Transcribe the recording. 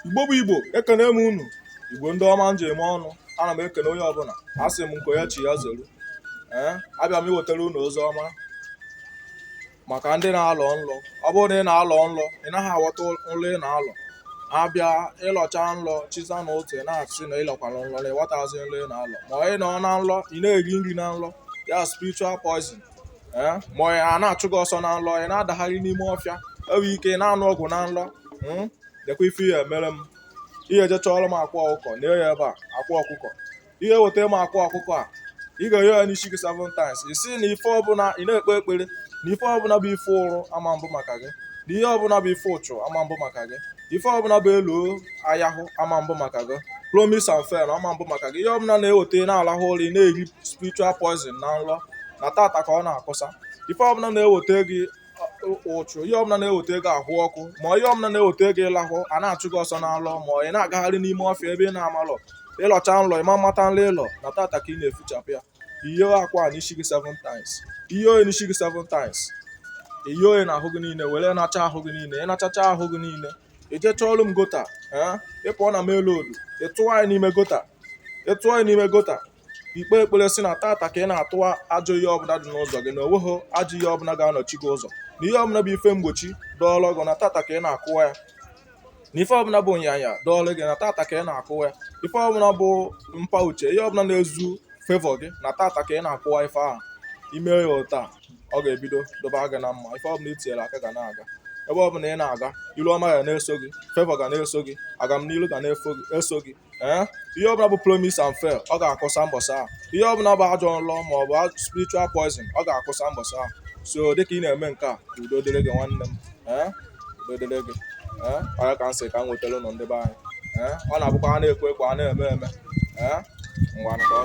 igbo bụ igbo ekene m unu igbo ndị ọma m ji eme ọnụ ana m ekene onye ọbụla asị m nke onye chi ya zelu ee abịa m iwetara unu ozi ọma maka ndị na-alọ nlọ ọ bụrụ na ị na-alọ nlọ ị naghị aghọta nlọ ị na-alọ abịa ịlọcha nlọ chezọ na otu ị na-asị na ịlọkwara nlọ na ịghọtazi nlọ ị na-alọ ma ị nọ na nlọ ị na-eri nri na nlọ ya spiritual poison eh, ma a na-achụ gị ọsọ na nlọ ị na-adagharị n'ime ọfịa enwe ike ị na-anụ ọgụ na nlọ hmm? lekwa ife ị ya-emere m ị ya-eje chọọrọ m akwa ọkụkọ na ya ebe a akwa ọkụkọ i weta m akwa ọkụkọ a ị ga-ehe ya n'isi gị seven times ị sị na ife ọbụla ị na-ekpe ekpere na ife ọbụla bụ ife ụrụ ama mbụ maka gị na ihe ọbụla bụ ife ụchụ ama mbụ maka gị ife ọbụla bụ elu ayahụ ama mbụ maka gị promise and fail ama mbụ maka gị ihe ọbụla na-eweta na-alahụ ụra ị na-eri spiritual poison na nrọ na tata ka ọ na-akwụsa ife ọbụla na-eweta gị ụchụ ihe ọbụla na-eweta gị ahụ ọkụ ma ihe ọbụla na-eweta gị ịlahụ a na-achụ gị ọsọ na nlọ ma ị na-agagharị n'ime ọfịa ebe ị na-amalọ ịlọcha nlọ ịma mmata nlọ ịlọ na tata ka ị na-efichapụ ya i hee akwa n'isi gị seven times i hee ya n'isi gị seven times i hee ya na ahụ gị niile were ya hicha ahụ gị niile ị hichacha ahụ gị niile i jee chọọlụ m gutter ee ịpụọ na main road ịtụwa ya n'ime gutter ịtụwa ya n'ime gutter i kpee ekpere sị na tata ka ị na-atụwa ajọ ihe ọbụla dị n'ụzọ gị na onweghị ajọ ihe ọbụla ga-anọchi gị ụzọ na ihe ọbụla bụ ife mgbochi dọọlụ gị na tata ka ị na-akụwa ya na ife ọbụla bụ onyanya dọọlụ gị na tata ka ị na-akụwa ife ọbụla bụ mpa uche ihe ọbụla na-ezu favour gị na tata ka ị na-akụwa ife ahụ ime ya ụta ọ ga-ebido dịba gị na mma ife ọbụla itinyere aka ga na-aga ebe ọbụla ị na-aga ilu ọma ga na-eso gị favour ga na-eso gị agamnilu ga na-eso gị ee eh? ihe ọbụla bụ promise and fail ọ ga-akwụsa mbọsị ahụ ihe ọbụla bụ ajọ nlọ ma ọ bụ spiritual poison ọ ga-akwụsa mbọsị ahụ so dịka ị na-eme nke a udo dịrị gị nwanne m eh? udo dịrị gị eh? ọ ya ka m sị ka m wetara unu ndị be anyị ọ na-abụkwa a na-ekwe ekwe a na-eme eme ngwa ka ọ